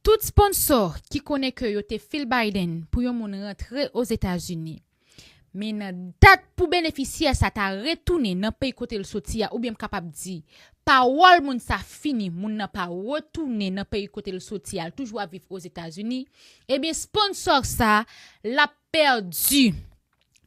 Tout sponsò ki konnen ke yo te fil Biden pou yon moun rantre Ozetazini, men nan dat pou benefisyè sa ta retounen nan peyi kote l soti a oubyen m kapab di, pawòl moun sa fini, moun nan pa retounen nan peyi kote l soti a, l toujou ap viv Ozetazini, ebyen sponsò sa l ap pèdi.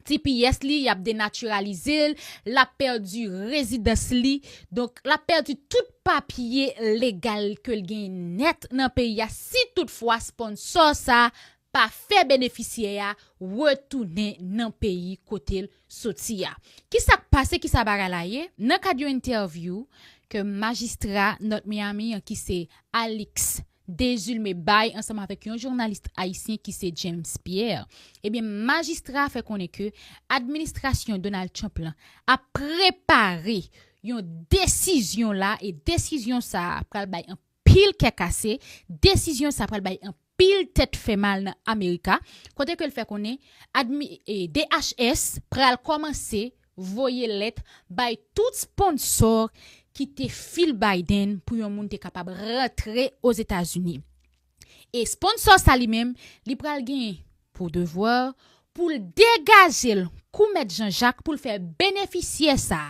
ti piyès li yap denatiralizel lap pèdi rezidans li donk lap pèdi tout papye legal kel gen nèt nan peyi a si tout fwa sponsò sa pa fè benefisyè a retounen nan peyi kotel soti a kisak pase kisa bagay la ye nan kad yon entèvyou ke majistra nòt Miami an kise Alix. Dezulme bay ansanm avèk yon journalist ayisyen ki se James Pierre. Ebyen majistra a fè konnen ke administrasyon Donald Trump lan ap prepare yon desizyon la e desizyon sa a pral bay anpil kè kase, desizyon sa a pral bay anpil tèt fè mal nan America kote ke l fè konnen admi DHS pral kòmanse voye lèt bay tout sponsor ki te fil Biden pou yon moun te kapab rantre Ozetazini. E sponsor sa li menm, li pral gen pou devwa pou l degaje l kou mèt Jan Jak pou l fè benefisyè sa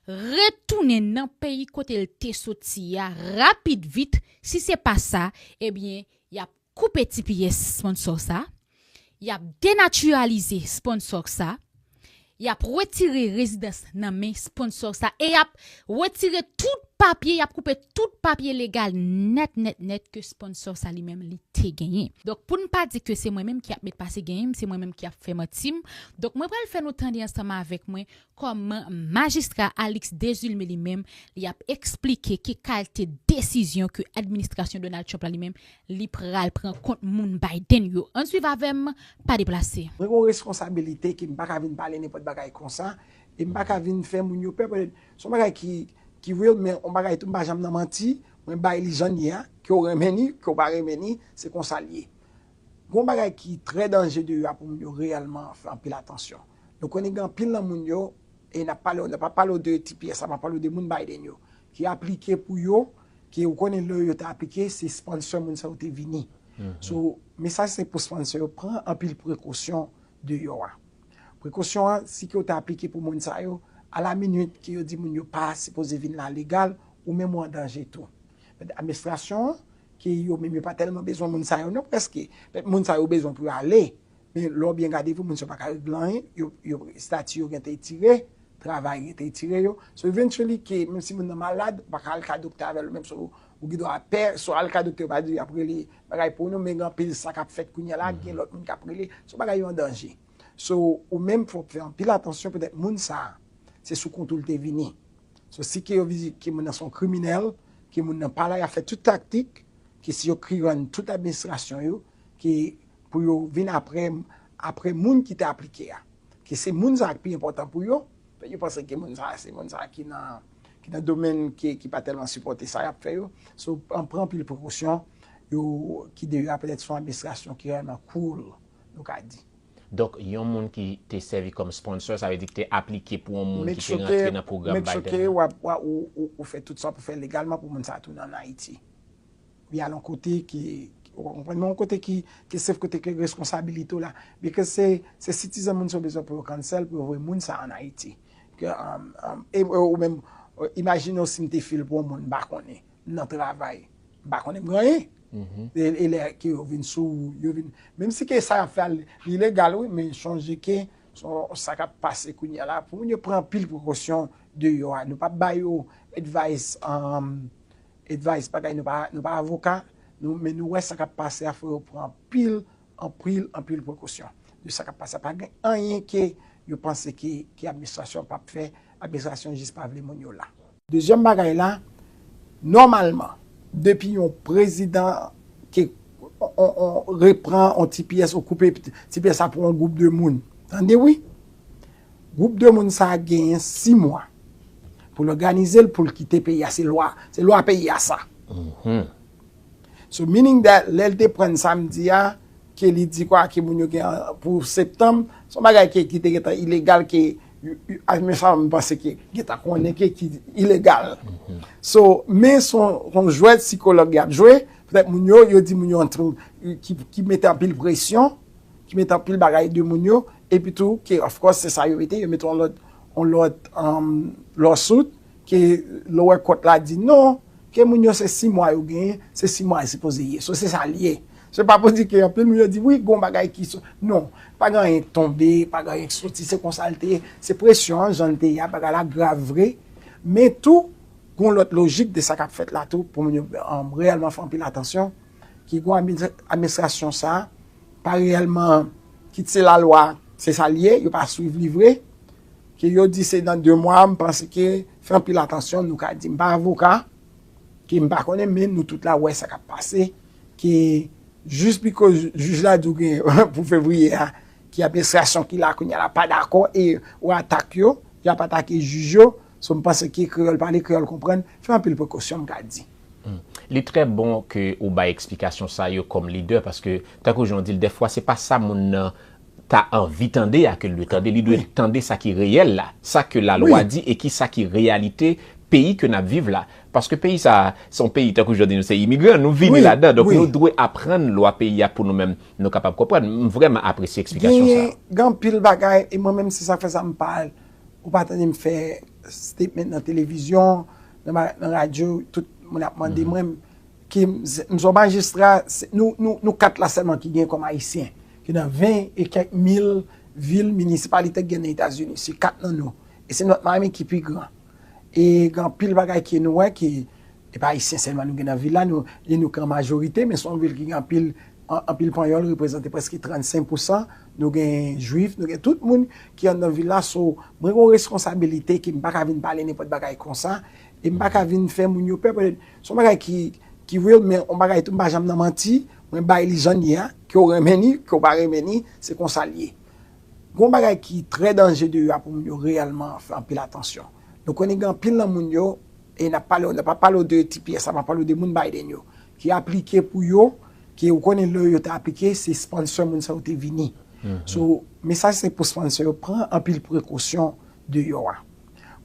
retounen nan peyi kote l te soti a rapid vit, si se pa sa, ebyen y ap koupe ti pyès sponsò sa, y ap denatiralize sponsò sa, y ap retire rezidans nan men sponsò sa e y ap retire tout papye, y ap koupe tout papye legal nèt nèt nèt ke sponsò sa li menm li te genyen. Donk pou n pa di ke se mwen menm ki ap met pase genyen m, se mwen menm ki ap fè manti m, donk mwen pral fè nou tande ansanm avèk mwen Kòm Majistra Alix Desulme li menm, li ap eksplike ki kalte desizyon ke administrasyon Donald Trump la li menm, li pral pran kont moun Biden yo. Ann swiv avè m, pa deplase. Mwen gen yon responsabilite ke m pa ka vin pale nenpòt bagay konsa, e m pa ka vin fè moun yo pè pètèt se yon bagay ki ki real men yon bagay tou m pa janm nan manti, mwen bay li jan l ye a, ke w renmen li, ke w pa renmen li, se konsa l ye. Gen yon bagay ki trè danje deyò a pou moun yo reyèlman fè anpil atansyon. Nou konnen gen anpil nan moun yo, e n ap pale w, n ap pa pale w de tps la, m ap pale w de moun Biden yo, ki aplike pou yo, ke ou konnen lè yo te aplike, se sponsor moun sa yo te vini. So, mesaj se pou sponsor yo pran anpil prekosyon deyò a. Prekosyon an, si ke ou te aplike pou moun sa yo, a la minit ke yo di moun yo pa sipoze vin la legal, ou menm ou an danje tou. Pètèt administrasyon an, ke yo menm yo pa tèlman bezwen moun sa yo non, prèske, pètèt moun sa yo bezwen pou yo ale, Men lè w byen gade tou moun sa yo pa ka regle anyen, yo estati yo gen te etire, travay yo te etire yo. So eventually ke menm si moun nan malad, ou pa ka al ka doktè avè l ou menm so ou gen dwa pè, so al ka doktè yo pa di y ap rele bagay pou nou men gen anpil sa k ap fèt kounye la, gen lòt moun k ap rele, so bagay yo an danje. So ou menm fò w fè anpil atansyon petèt moun sa a se sou kont ou l te vini. So si ke yo vizit ke moun nan se yon kriminèl, ke moun nan pa la y ap fè tout taktik, ke si yo kriran tout administrasyon yo, ke pou yo vin apre apre moun ki te aplike a ke se moun sa ki pi enpòtan pou yo paske yo panse ke moun sa se moun sa ki nan ki nan domèn ki pa tèlman sipòte sa y ap fè yo so an pran anpil prekosyon yo ki de yo a petèt se yon administrasyon ki rèlman cool nou ka di. Donk yon moun ki te sèvi kòm sponsor sa vle di ki te aplike pou yon moun ki te rantre nan pwogram Biden an. Make sure ke ou fè tout sa w pou fè legalman pou moun sa tounen an Ayiti. Li al yon kote ki, ou konprann, men yon kote ki safe, kote ke reskonsabilite w la. Because se, se citizen moun sa yo bezwen pou yo cancel, pou yo voye moun sa a an Ayiti. Ke, ou menm, imajine w si m te fil pou yon moun m pa konnen, m nan travay, m pa konnen, m pa gen anyen. E lè ke yo vin sou ou, yo vin, menm si ke sa y ap fè a li ilegal wi, men chonje ke son sa k ap pase kounye a la, pou moun yo pran anpil prekosyon deyò a. Nou pa bay yo advice. Advice bagay nou pa nou pa avoka nou men nou wè sa kap pase a fò yo pran anpil anpril anpil prekosyon de sa kap pase a pa gen anyen ke yo panse ke ke administrasyon an pap fè administrasyon jis pa vle moun yo la. Dezyèm bagay la nòmalman depi yon prezidan ke on on repran on tipiyès ou koupe tipiyès sa pou on gwoup de moun tande wi Gwoup de moun sa a genyen 6 mwa pou l òganize l pou l kite peyi a. Se lwa, se lwa peyi a sa. So meaning that lè l te pran samdi a ke li di kwa ke moun yo gen pou septanm, se yon bagay ke ki te gen tan ilegal ke me sa m panse ke gen tan konnen ke ki ilegal. So men se yon jwèt sikològ y ap jwe. Petèt moun yo, yo di moun yo yon tru ki mete anpil presyon. ki met anpil bagay de moun yo, epi tou ke of course se sa yo mete, yo mete yon lòt yon lòt lawsuit ke lower court la di non, ke moun yo se 6 mwa yo genyen, se 6 mwa yo sipoze ye. So se sa li ye. Se pa pou di ke anpil moun yo di wi gon bagay ki sot. Non, pa gen anyen ki tonbe, pa gen anyen ki soti, se konsa li te ye. Se presyon an jan li te ye a, bagay la grav vre, men tou gon lòt lojik de sa kap fèt la tou pou moun yo reyèlman fè anpil atansyon, ke gon administrasyon sa Pa reyèlman kit se lalwa se sa li ye yo pa swiv li vre ke yo di se nan 2 mwa m panse ke fè anpil atansyon nou ka di m pa avoka ke m pa konnen men nou tout la wè sa kap pase ke jis bikòz jij la di w gen pou fevriye a ki ap enstrasyon ki la kounye a la pa dakò e ou atak yo y ap atake jij yo so m panse ke kreyòl pale kreyòl konprann fè anpil prekosyon m ka di. Li trè bon ke ou bay eksplikasyon sa yo kòm lidè paske tankou jan ou di l dèfwa se pa sa moun nan ta anvi tande a ke l dwe tande, li dwe tande sa ki reyèl la, sa ke lalwa di e ki sa ki reyalite peyi ke n ap viv la. Paske peyi sa a se yon peyi tankou jan w di nou se imigran, nou vini ladan donk nou dwe aprann lwa peyi a pou nou menm nou kapab konprann. M vrèman apresye eksplikasyon sa yo. Gen anpil bagay e mwen menm se sa k fè sa m pa al ou pa tande m fè statement nan televizyon nan radyo tout moun ap mande mwen ki m son majistra nou 4 la sèlman ki gen kòm ayisyen ki nan 20 e kèk mil vil minisipalite ki gen nan etazini se 4 nan nou e se nòt mami ki pi gran e gen anpil bagay ke nou wè ki e pa ayisyen sèlman nou gen nan vil la nou gen nou ki an majorite men son vil ki gen anpil anpil panyòl reprezante preske 35 pousan Nou gen jwif, nou gen tout moun ki anndan vil la so mwen gen yon reskonsabilite ke m pa ka vin pale nenpòt bagay konsa e m pa ka vin fè moun yo pè pètèt se yon bagay ki ki real men yon bagay tou m pa janm nan manti mwen bay li jan l ye a ke w renmen li ke w pa renmen li se konsa l ye gen yon bagay ki trè danje deyò a pou moun yo reyèlman fè anpil atansyon nou konnen gen anpil nan moun yo E nap pale w nan pa pale w de tps la map pale w de moun Biden yo ki aplike pou yo ke ou konnen lè yo te aplike se sponsor moun sa yo te vini so mesaj se pou sponsor yo pran anpil prekosyon de yo a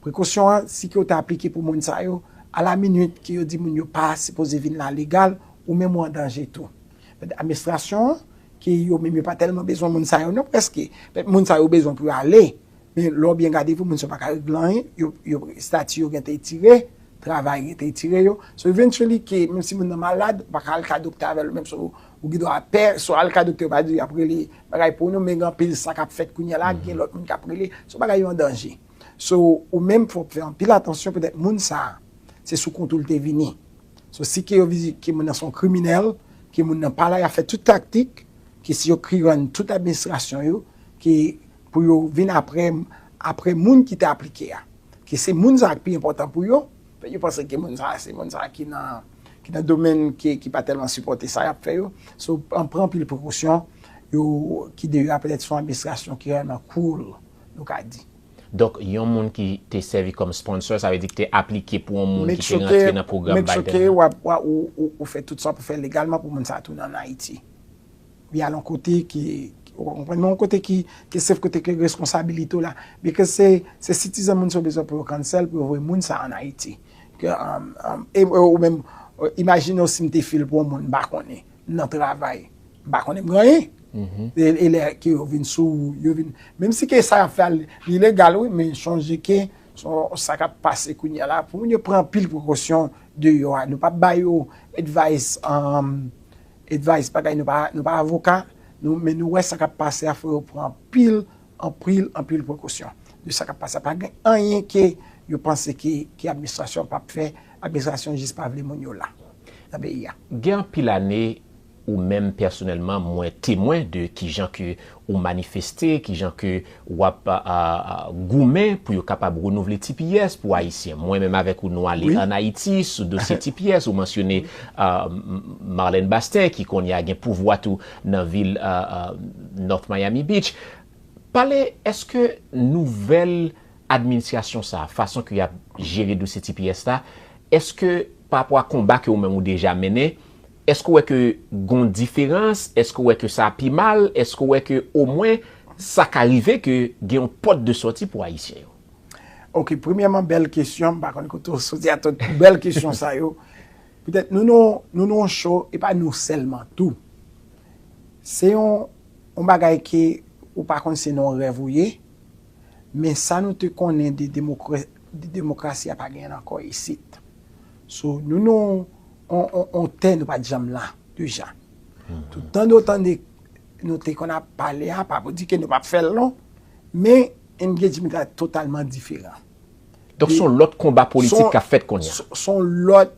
prekosyon an si ke ou te aplike pou moun sa yo a la minit ke yo di moun yo pa sipoze vin la legal ou menm ou an danje tou pèt amestrasyon an ke yo menm yo pa tèlman bezwen moun sa yo non prèske pèt moun sa yo bezwen pou yo ale Men lè w byen gade pou moun sa yo pa ka regle anyen, yo estati yo gen te etire, travay gen te etire yo. So eventually ke menm si moun nan malad, ou pa ka al ka doktè avè l menm so ou gen dwa pè, so al ka doktè yo pa di yap rele bagay pou nou men gen anpil sa kap fèt kounye la, gen lòt moun kap rele, so bagay yo an danje. So ou menm fò w fè anpil atansyon petèt moun sa se sou kont ou l te vini. So si ke yo vizi ke moun nan se yon kriminèl, ke moun nan pa la yap fè tout taktik, ke si yo krirann tout administrasyon yo, ke. Pou yo vin apre m, apre moun ki te aplike a. Ke se moun sa a ki pi enpòtan pou yo. Yo panse ke moun sa a se moun sa a ki nan domèn ki pa tèlman sipòte sa y ap fè yo. So, an pran anpil prekosyon. Yo ki de yo a petèt se yon administrasyon ki rèlman cool, nou ka di. Donk, yon moun ki te sèvi kòm sponsor, sa vle di ki te aplike pou yon moun ki te rantre nan pwogram Biden an. Make sure ke ou fè tout sa w pou fè legalman pou moun sa a tounen an Ayiti. Li al yon kote ke, ou ka konprann, men yon kote ki sef, kote ke reskonsabilite w la. Bikòz se, se sitizan moun sa ou bezwen pou yo cancel, pou yo voye moun sa an Ayiti. Ke, e ou menm, imajine w si m te fil pou yon moun m pa konnen, m nan travay, m pa konnen, m pa gen anyen. E lè ke yo vin sou ou, yo vin, menm si ke sa y ap fè a, li legal wi, men chonje ke, sa k ap pase kounye a la, pou moun yo pran anpil prekosyon deyò a. Nou pa bay yo advice. Advice bagay nou pa nou pa avoka nou men nou wè sa kap pase a fò yo pran anpil anpril anpil prekosyon de sa kap pase a pa gen anyen ke yo panse ke ke administrasyon an pap fè administrasyon jis pa vle moun yo la nan peyi a. Gen anpil ane ou menm pèsonèlman mwen temwen de kijan ke Ou manifeste kijan ke wap goumen pou yo kapab renouvle tps pou ayisyen. Mwen menm avèk ou nou ale an Ayiti sou dosye tps. Ou mansyone Marlène Basten ki kounye a gen pouvwa tou nan vil North Miami Beach. Pale, eske nouvèl adminsyasyon sa, fason ke yap jere dosye tps la, eske pa rapò a konba ke ou menm ou deja mennen, Èske w wè ke gon diferans? Èske w wè ke sa pi mal? Èske w wè ke omwen sa ka rive ke gen yon pòt de sòti pou Ayisyen yo? Ok, premyèman bèl kesyon, m pa konn kote w soti ak tout bèl kesyon sa yo. Petèt nou nan nou nan yon show, e pa nou sèlman tou. Se yon yon bagay ke ou pa konn se nan yon rèv ou ye, men sa nou te konnen de demokra de demokrasi a pa genyen l ankò isit. So nou nan yon On tè nou pat janm la deja. Tout tan nou tande nou te konn ap pale a, pa pou di ke nou pap fè l non, men engagement la totalman diferan. Donk son lòt konba politik kap fèt konnya. Son lòt,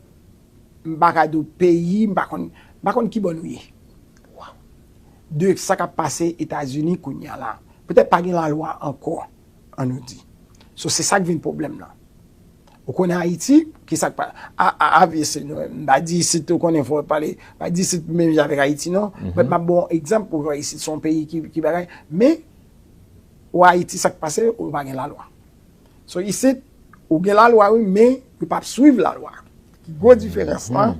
m pa ka di w peyi, m pa konn, m pa konn ki bò nou ye. Waw. De sa kap pase Etazini kounya la. Petèt pa gen lalwa ankò, an nou di. So se sak vin pwoblèm nan. Ou konnen Ayiti? Ki sa k pa. A, a, avc, nou menm. M pa di isit, ou konnen, fò pale. M pa di isit pou menm jan avèk Ayiti non. But m ap ba w yon egzanp pou w wè isit se yon peyi ki, ki bagay. Men, ou a Ayiti sa k pase, ou pa gen lalwa. So isit, ou gen lalwa wi men, yo pa ap swiv lalwa. Ki gwo diferans lan.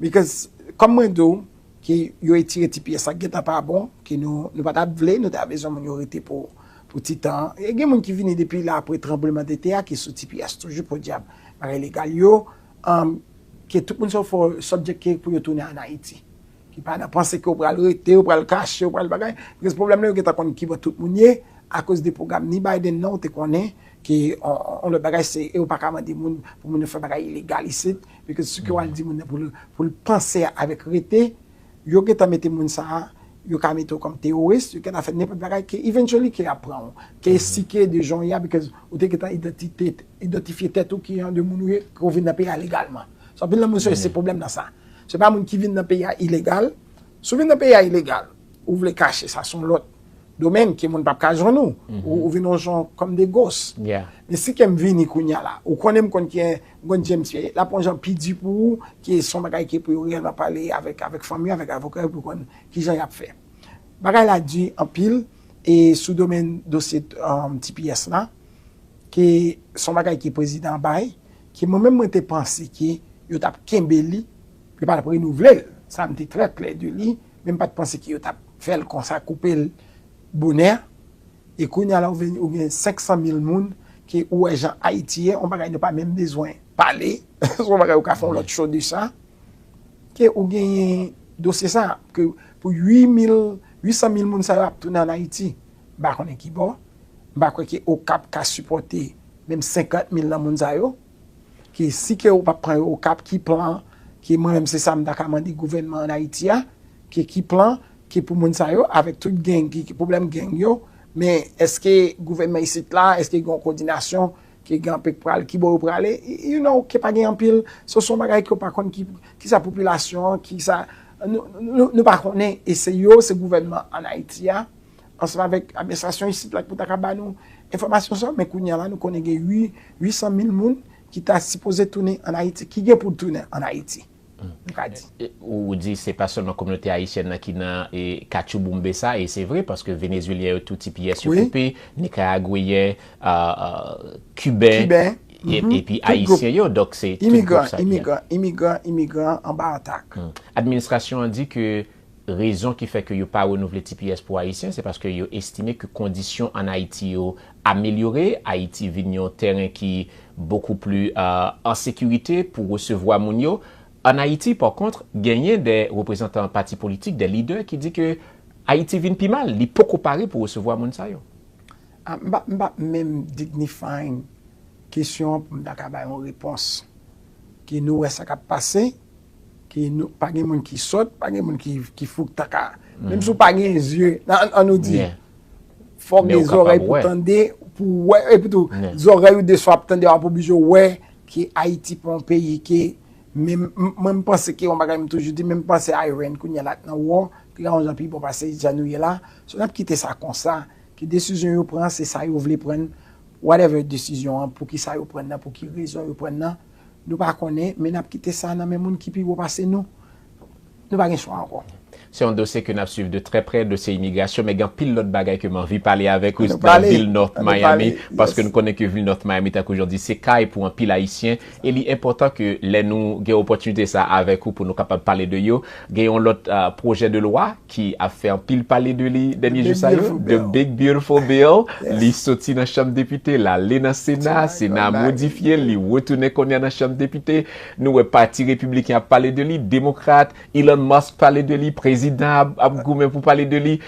Because, kòm mwen di w. ke yo etire ti pyès sa k gentan pa bon, ke nou nou pa t ap vle, nou ta bezwen moun yo rete pou pou ti tan an. E gen moun ki vini depi la apre tranblemanntete a ki sou ti pyès toujou podyab bagay legal yo an ke tout moun sa yo fò sòbjekte pou yo tounen ann Ayiti. Ki pa nan panse ke ou pral rete, ou pral kache, ou pral bagay. Bikòz pwoblèm la yo gentan konn ki bò tout moun ye akoz de pwogram ni Biden nan ou te konnen ke on on lòt bagay se e ou pa ka mande moun pou moun yo fè bagay ilegal isit. Because sou ke wal di moun nan pou l pou l panse avèk rete yo gentan mete moun sa a yo ka mete w kòm terrorist yo gentan fè nenpòt bagay ke eventually ke yap pran w ke si ke de jan w ye a because ou te gentan idantite idantifye tèt ou ki jan de moun ou ye ke w vin nan peyi a legalman so anpil nan moun sa yo se pwoblèm nan sa se pa moun ki vin nan peyi a ilegal si w vin nan peyi a ilegal ou vle kache sa son lòt Domaine ke moun pap ka jwenn ou. Ou vin yon jan comme des gosses. Men si kem vini kounya la, ou konnen m konn ki en grenn jem t ye, lap yon jan pi di pou ou ke son bagay ke pou yo reyèlman pale avèk avèk fanmi yo, avèk avoka yo pou yo konn kijan yap fè. Bagay la di anpil e sou domaine dosye tps la ke son bagay ke prezidan bay ke mwen menm mwen te panse ke yo tap kenbe li, yo pa tap renouvle l, sa m te trè klè de li. Men mpat panse ke yo tap fèl konsa koupel bonè e kounya la ou vin ou gen 500 mil moun ke ou wè jan ayiti ye on bagay nou pa menm bezwen pale son bagay ou ka fè yon lòt show de sa ke ou genyen dosye sa ke pou 8 mil 800 mil moun sa yo ap tounen an ayiti mpa konnen kibò mpa kwè ke okap ka sipòte menm 50 mil nan moun sa yo Ke si ke yo pap pran yo okap ki plan ke mwen menm se sa m ta ka mande gouvènman an ayiti a ke ki plan ke pou moun sa yo avèk tout gang ki ki pwoblèm gang yo men eske gouvènman isit la eske gen yon kòdinasyon ke gen anpe k pral ki bò yo prale you know ke pa gen anpil so son bagay ke w pa konn ki kisa popilasyon an kisa nou nou pa konnen e se yo se gouvènman an ayiti a Ansanm avèk administrasyon isit la ki pou ta ka ba nou enfòmasyon sa yo, men kounye a la nou konnen gen 800 mil moun ki ta sipoze tounen ann Ayiti, ki gen pou tounen ann Ayiti, nou ka di. Ou di se pa sèlman kominote ayisyèn nan ki nan katchouboumbe sa, e se vre paske Venezuelyen yo tou ti pyès yo koupe, Nikaragweyen, Kiben, epi Ayisyen yo, donk se tout gwoup sa ki la. Imigran, imigran, imigran anba atak. Administrasyon an di ke Rezon ki fè ke yo pa renouvle tps pou Ayisyen, se paske yo estime ke kondisyon an Ayiti yo amelyore, Ayiti vin yon tèren ki bokou pli an sekirite pou resevwa moun yo. An Ayiti, pa kontr, genyen de reprezantan pati politik, de lidè ki di ke Ayiti vin pi mal, li poko pare pou resevwa moun sa yo. M pa, m pa menm dignify kesyon an pou m ta ka bay yon repons ke nou wè sa k ap pase, Pa gen moun ki sòt, pa gen moun ki fou k ta ka. Menm si w pa gen zye, an nou di, fò gen zòrèy pou tande, pou wè, epi tou, zòrèy ou deswa ap tande, wap oblije wè ke Ayiti pa yon peyi ke, menm, mwen m panse ke yon bagay m toujou di, menm panse Ayren kounye la k nan wò, li ka yon jan pi bon pase jan nou ye la, so n ap kite sa konsa, ke desizyon yo pran se sa yo vle pran, whatever desizyon an, poukisa yo pran nan, pou ki rezon yo pran nan. Nou pa konnen, men n ap kite sa nan men moun ki pi wo pase nou. Nou pa gen chwa ankò. Se yon dosye ke n ap swiv de trè prè, dosye imigrasyon, men gen anpil lòt bagay ke m anvi pale avèk ou nan vil North Miami, paske nou konnen ke vil North Miami tankou jan w di, se kay pou anpil Ayisyen, e li enpòtan ke lè nou gen opòtinite sa a avèk ou pou nou kapab pale de yo. Gen yon lòt pwojè de lwa. ki ap fè anpil pale de li dènye jou sa yo, The Big Beautiful Bill, li soti nan chanm depite, l ale nan sena, sena a modifye l, li retounen kounye a nan chanm depite, nou wè pati repibliken ap pale de li, demokrat, Elon Musk pale de li, prezidan a ap goumen pou pale de li,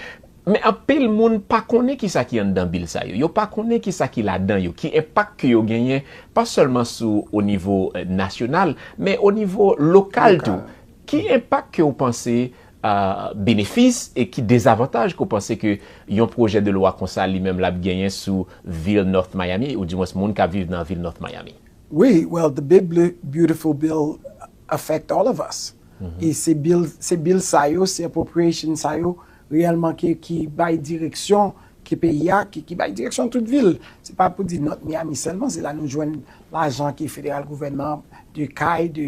men anpil moun pa konnen ki sa ki anndan bill sa yo, yo pa konnen ki sa ki ladan yo, ki enpak ke yo genyen, pa sèlman sou o nivo nasyonal, men o nivo lokal tou, ki enpak ke ou panse benefis e ki dezavantaj ke w panse ke yon pwojè de lwa konsa li menm l ap genyen sou vil North Miami ou di mwens moun k ap viv nan vil North Miami? Wi, well the big beautiful bill affect all of us e se bill sa yo, se appropriation sa yo reyèlman ki bay direksyon ke peyi a, ki bay direksyon tout vil. Se pa pou di North Miami sèlman, se la nou jwenn lajan ke federal gouvènman de kay, de.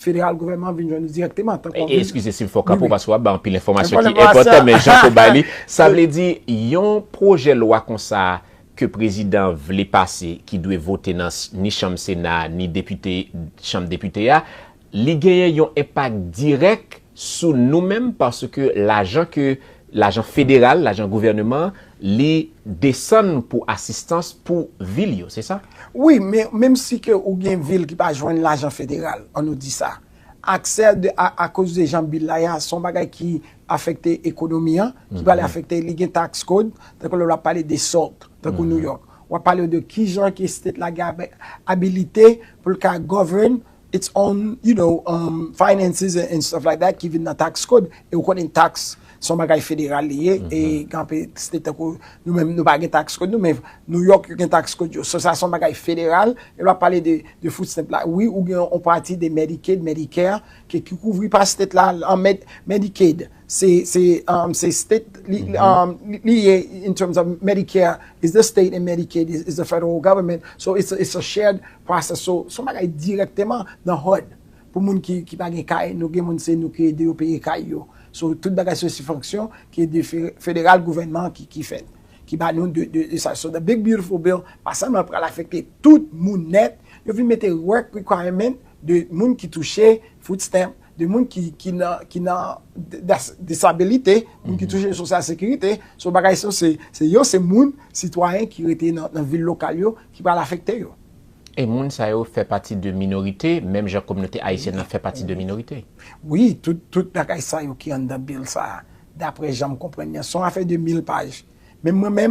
Federal Government an vin jwenn nou dirèkteman tankou yon vil. Eskize si m fè w kapo paske w ap bay anpil enfòmasyon ki enpòtan men jan ou bay li. Sa vle di yon pwojè lwa konsa ke prezidan an vle pase ki dwe vote nan ni chanm sena a ni depite chanm depite a li genyen yon enpak dirèk sou nou menm paske lajan ke lajan federal lajan gouvèneman li desann pou asistans pou vil yo se sa? Wi men menm si ke ou gen vil ki pa jwenn lajan federal an nou di sa aksè de a akoz de jan bil la ye a son bagay ki afekte ekonomi an ki pral afekte li gen tax code tankou lè wap pale de salt tankou New York wap pale de kijan ke state la gen abilite poul ka govern It's on you know finances and stuff like that ki vin nan tax code e ou konnen tax son bagay federal li ye e gen anpil state tankou nou menm nou pa gen tax code nou men New York yo gen tax code yo so sa son bagay federal e lè wap pale de de food stamp la wi ou gen yon pati de Medicaid, Medicare ke ki kouvri pa state la an Medicaid. Se se state li ye in terms of Medicare is the state and Medicaid is the federal government so it's a shared process so son bagay direkteman nan hud pou moun ki pa gen kay nou gen moun se nou ki ede yo peye kay yo so tout bagay se sifonksyon ki ede federal gouvenman ki fèt ki ba nou de sa so the big beautiful bill pa sèlman pral afekte tout moun nèt yo vin mete work requirement de moun ki touche food stamp de moun ki ki nan ki nan das disabilite moun ki touche sosyal sekirite so bagay so se se yo se moun sitwayen ki rete nan nan vil lokal yo ki pral afekte yo. E moun sa yo fè pati de minorite menm jan kominote ayisyèn nan fè pati de minorite? Wi tout tout bagay sa yo ki anndan bill sa a daprè jan m konprann li an son afè de mil paj menm mwen menm